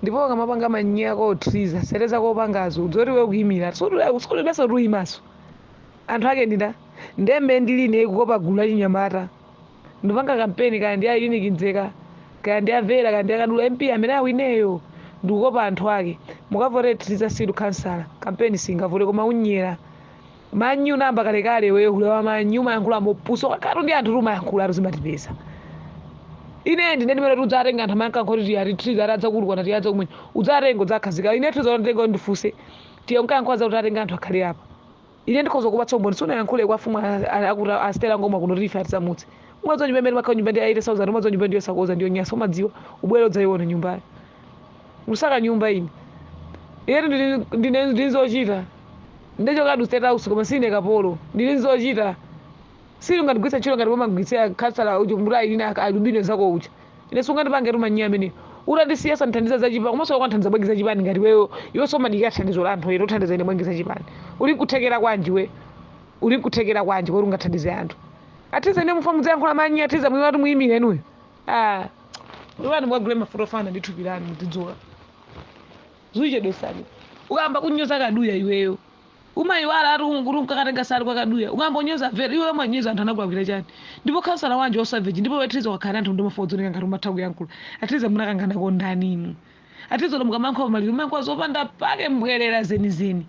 ndipo ukamapanga manyi ako Triza sete zako upangazo udziwe kuti iwe ukuimira sulibenso kuti uyimanso anthu ake ndina ndembe ndiline ikukopa gulu la chinyamata ndipanga kampeni kaya ndi ayuniki mdzeka kaya ndi avera kaya ndi a Kaduya mp amene awineyo ndikukopa anthu ake mukavote Triza Silo khansala kampeni singavute koma unyera manyi namba kalekale iweyo hule wa manyi umayankhula mopusa kakatu ndi anthu ti umayankhula ati zimatipeza ine ndine ndimene kuti udzatenga anthu amanka nkhoti ati Triza ati adzakulukwana tiyadza kumene udzatenga udzakhazika ine Triza unatenga ndifunse tiye unkayankhula za utatenga anthu akhale apa ine ndikhoza kupatsa umboni sunayankhule kwa fumu akuti asitera ngoma kuno tife atisamutse umadziwa nyumba imene makhala nyumba ndi 8000 umadziwa nyumba ndi yosakonza ndi yonyasa umadziwa ubwere udzaiona nyumbayo kusaka nyumba ine inetu ndili- ndine ndili zochita ndachokatu state house koma sine kapolo ndili zochita sili ungandigwiritse ntchito ngati pomagwiritsira khansala uja kuti ayi ine alubino nzako uja ine sungandipange tumanyiya amene utandisiya sandithandiza zachipani komanso wakanthandiza bwanji zachipani ngati weyo iwe sumadikira thandizo la anthu ine uthandiza ine bwanji zachipani uli kuthekera kwanji we uli kuthekera kwanji kuti ungathandize anthu a Triza ine mufa mudzayankhula manyi a Triza mwiwatu muyimire inuyo Ah, iwani mukagule mafuta ofana ndi thupi lanu muzidzola zuchedwesani ukamba kunyoza kaduya iweyo umayiwala ati kuti unkakatenga sali kwa kaduya ukamba unyoza Vera iweyo umanyoza anthu anakulakwira chani ndipo khansala wanji wasaveji ndipo we Triza wakhala anthu ndomafa odzoneka ngati umatha kuyankhula a Triza munakanganako ndani inu a Triza kuti mukamayankhula maliro mumayankhula zopanda pake mbwerera zenizeni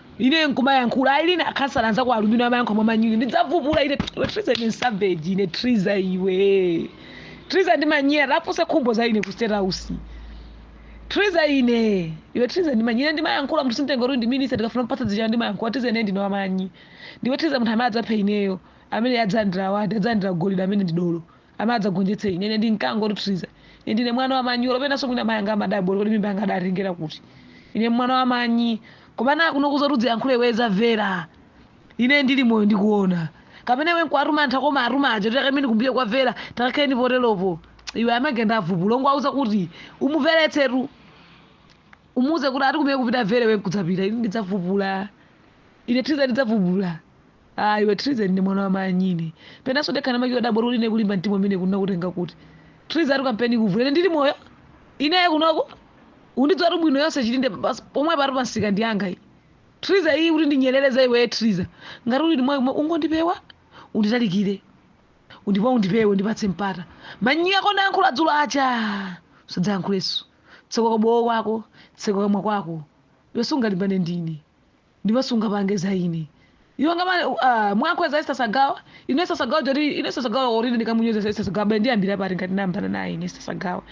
ine nkumayankhula ayi lina akhansala anzako alubino amayankha mwa manyunyu ndidzavupula ine iwe triza ine ndi saveji ine triza iwe triza ndi manyera afunse khumbo za ine ku state house triza ine iwe triza ndi manyi ine ndimayankhula munthu simtenga kuti ndi minister ndikafuna mpatsa dzichana ndimayankhula triza ine ndine wamanyi ndiwe triza munthu amene adzaphe ineyo amene adzalandira awadi adzalandira golide amene ndi dolo Amene adzagonjetse ine. Ine ndi mkango woti Triza. Ine ndine mwana wa manyi. Olo penanso mwina amai anga amadabwa kuti kodi mimba yanga adatengera kuti. Ine mwana wa manyi. Koma na kuno kuza kuti udziyankhule iwe za Vera. Ine ndili moyo ndikuona. Kapena iwe nkuwatuma anthu ako umaatuma aja kuti takaimeni kumbuyo kwa Vera, takakhaleni poteropo. Iwe amagenda avubulwa ungowauza kuti umuveretsetu. Umuuze kuti ati kumene kupita Vera iwe nkudzapita. Ine ndidzavubula. Ine Triza ndidzavubula. Ah, iwe Triza ndine mwana wa manyi ine. Penanso ndekha ndimachita kudabwa kuti ine kulimba mtima kumeneku nakutenga kuti. Triza ati kampeni kuvu. Ine ndili moyo. Ine ya kunoko. Undidziwatu bwino yonse chitinde pas- pomwe pali pamsika ndi yanga iyi. Triza iyi kuti ndinyerereza iwe Triza. Ngati uli moyo ungondipewa unditalikire. Undipa undipewe ndipatse mpata. Manyi ako unayankhula dzulo aja. Usadzayankhulenso. Tseka kabowo kwako, tseka kamwa kwako. Iwe sungalimbane ndine. ndipo sungapange za ine iwe ngamane uh, mwakweza Esther Sagawa ine Esther Sagawa jori ine Esther Sagawa ori ndikamunyoza Esther Sagawa bende ndiyambira pati ngati ndiyambana naye ine Esther Sagawa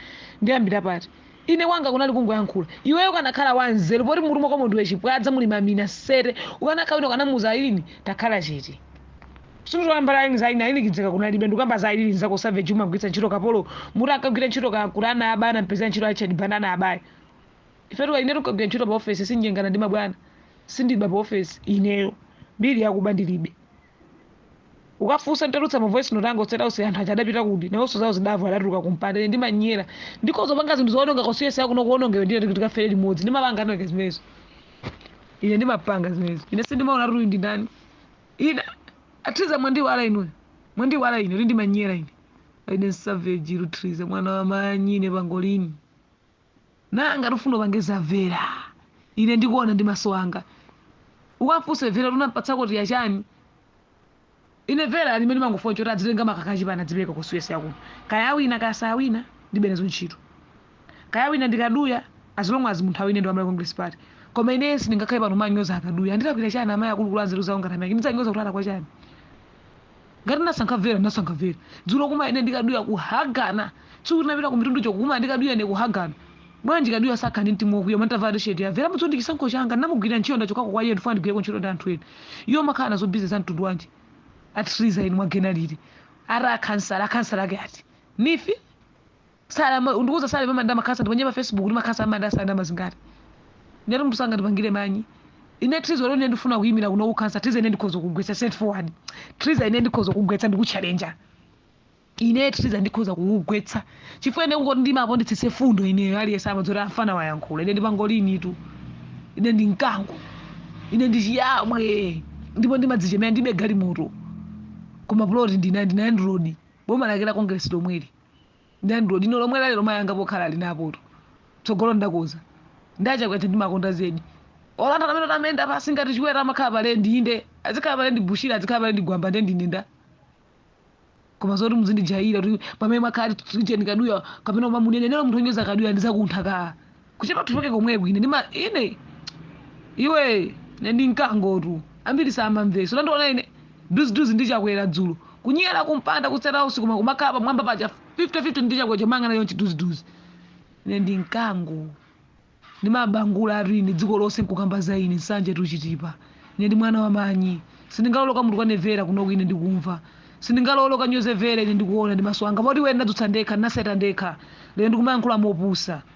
ndiyambira pati ine wanga kunali kungoyankhula iweyo ukanakhala wanzeru poti mutu mwako mundiwe chipwadza muli mamina sete ukanakhala ukanamuuza ayilini takhala chete sindikukamba za ayilini za ayilini ayilini kidzeka kunalibe ndikukamba za ayilini zako savage umagwiritsa ntchito kapolo muti ankagwira ntchito ka kuti ana abana mpezera ntchito achadibana ana abayi ifetu kali inetu kagwira ntchito pa ofesi sindinyengana ndi mabwana sindiba pa ofesi ineyo mbiri yakuba ndilibe ukafuna ntulutsa mavoice note anga otsera onse anthu aja adapita kuti nawonso zawo zidavo adatuluka kumpanda ine ndimanyera ndikhoza panga zinthu zoononga constituency kuno kuonongeke ndiye kuti tikafere limodzi ndimapanga anoke zimenezo ine ndimapanga zimenezo ine sindimaona kuti uyu ndi ndani ine a triza mwandiwala inuyo mwandiwala ine kuti ndimanyera ine ine savage tu triza mwana wa manyi ine pangolini nanga ukufuna upange za vera ine ndikuona ndi maso anga ukamfunse vera tinampatsa kuti yachani ine vera ali mene mangofuna choti adzitenga makaka achipani adzipereka constituency yakuno kaya awina kaya sayawina ndibe nazo ntchito kaya awina ndi kaduya as long as munthu awine ndi wa malawi congress party koma ine sindingakhale pano kumanyoza a kaduya andilakwira chani amayi akulukulu anzeru zawo ngati amake ndidzanyoza kuti atalakwa chani ngati nasankha vera nasankha vera dzulo koma ine ndi kaduya kuhagana tsiku tinapita ku mitundu choko koma ndi kaduya ine kuhagana bwanji kaduya sakhala ndi mtima wokwiya ndavala tisheti ya vera mudzi ndi chisankho changa ndinamugwirira ntchito ndachokako kwa iye ndifuna ndigwireko ntchito ndi anthu ena iye umakhala nazo busy za mtundu wanji a triza inu mwagena liti ara akhansala akhansala ake ati nifi Sara ma- ndikuuza salary ya ndama makhansala ndiponye pa facebook kuti makhansala amalandira salary ndama zingati ndiyati munthu sangandipangire manyi ine triza lero ine ndifuna kuyimira kuno ukhansala triza ine ndikhoza kugwetsa straight forward triza ine ndikhoza kugwetsa ndikutchalenja ine triza ndikhoza kukugwetsa chifukwa ine kungoti ndiimapo nditsitse mfundo ineyo aliyense amadzoti afana wayankhula ine ndi pangolinitu ine ndi mkango ine ndi chiyamwe ndipo ndimadzichemera ndibe galimoto koma ploti ndinayo ndinalandira boma lake la congress lomweli ndalandira lino lomwe lali lomwe ana anga pokhala ali napotu tsogolo ndakonza ndi achakwera ndimakonda zedi olo anthu amene amayenda pansi ngati chiwera amakhala palendi inde azikhala palendi bushiri azikhala palendi gwamba nde ndine nda koma zoti muzindijaira kuti pamene mwakhala ticheni kaduya kapena umamunenenero munthu onyoza kaduya ndizakuntha kaa kutchipa uchoke komweko ine ndima ine iwe ine ndi mkango tu ambiri samamvetsa atandiona ine duziduzi ndi chakwera dzulo kunyera kumpanda kutsera usiku koma kumakhala pamwamba paja 50-50 ndi chakwera kumayang'anana chonchi duziduzi ine ndi mkango ndimabangula atu ine dziko lonse nkukamba za ine nsanje tuchitipa ine ndi mwana wa manyi sindingalole kuti munthu atukwane vera kunoko ine ndikumva sindingalole kuti anyoze vera ine ndikuona ndi maso anga poti wena ndadzutsa ndekha ndinaseta ndekha lero ndikumayankhula mopusa